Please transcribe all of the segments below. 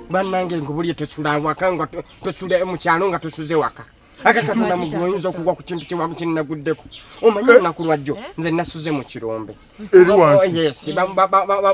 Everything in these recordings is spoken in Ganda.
banange ngubulye tosula awaka nga tosula mukyalo nga tosuze waka aka katonda mugoyinza okugwa ku kintu kyewaku kyenaguddeko omanyi olunaku lwajjo nze nasuze mu kirombe eri wansi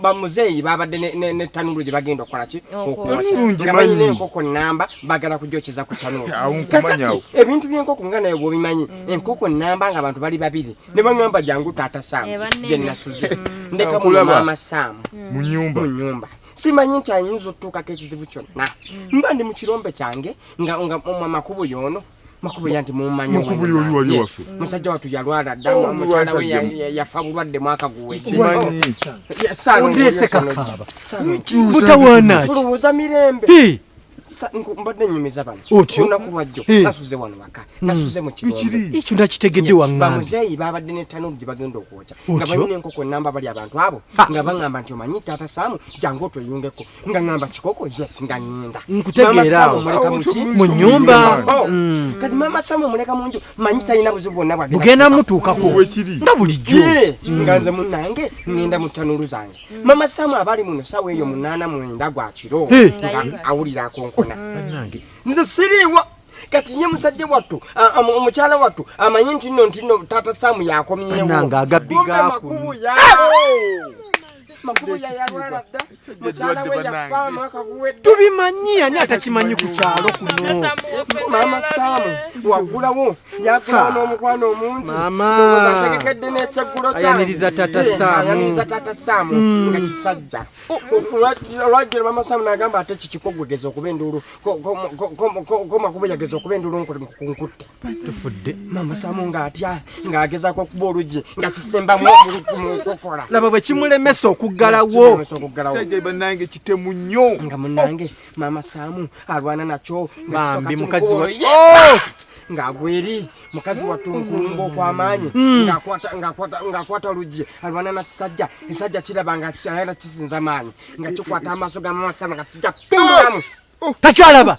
bamuzeeyi babadde ne tanulu gye bagenda okukola ki okuamanyi n'enkoko namba bagala kujokyeza ku tanulu kakati ebintu by'enkoko nga naye bwobimanyi mm. enkoko namba nga abantu bali babiri mm. ne baŋamba jangu taata saamu eh, gye nasuze mm. ndeka mumaama saamu mu nyumba simanyi nti ayinza otutuukako ekizibu kyonna mba ndi mu kirombe kyange nga amakubo yoono makubuya nti mumanyi musajja watu yalwala dda oh, mukyala we yafa bulwadde mwaka guwekimanyibutewanakitulowooza mirembe mbadde nyumiza bano olunaku lwajjo sasuze wano waka hmm. nasuze mu kigongo ekyo nakitegedde waŋŋambi bamuzeeyi babadde ne tanuulu gye bagenda okwokya nga balina enkoko namba bali abantu abo nga baŋŋamba nti omanyi taata saamu jangu otweyungeko nga ngamba kikoko yes nga ngenda nkutegeeraawo mu nyumba oh. mm. kati mama samu muleka mu nju manyi talina buzibu bwonna bwagenda mutuukako nga bulijjo mm. nga nze munange ngenda mu tanulu zange mm. mama samu abali muno sawa eyo munaana mwenda gwa kiro nga awulira akonkona nze siriiwa kati nye musajja wattu omukyala wattu amanyi nti nno nti nno taata samu yakomyewo makubu yayalwala dda mukyala we yafa mwaka guwedde tubimanyi ani atakimanyi ku kyalo kuno maama saamu wagulawo yagulawo n'omukwano omungi owoza ategekedde n'ekyeggulo kyayaniriza tata eh, saamuyaniriza tata saamu mm. nga kisajja olwajjira maama saamu n'agamba ate kikikogwegeza okuba enduulu komakuba yageza okuba enduulu nkutte tufudde mama samu ng'atya ng'agezaako okuba oluggi nga kisembamu omukokola laba bwe kimulemesa okuggalawo sajja banange kitemu nnyo nga munange mama samu alwana nakyo bambi mukazi wa oh! ng'agweri mukazi wattu nkulumba okw'amaanyi hmm. ng'akwata oluggi alwana na kisajja ekisajja kiraba nga ayana kisinza maanyi nga kikwata amaaso ga mama samu nga kigatumulamu oh! Oh! takyalaba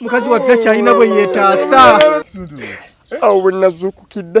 mukazi wattu takyalina bwe yeetaasa awo bwe nazuukukidde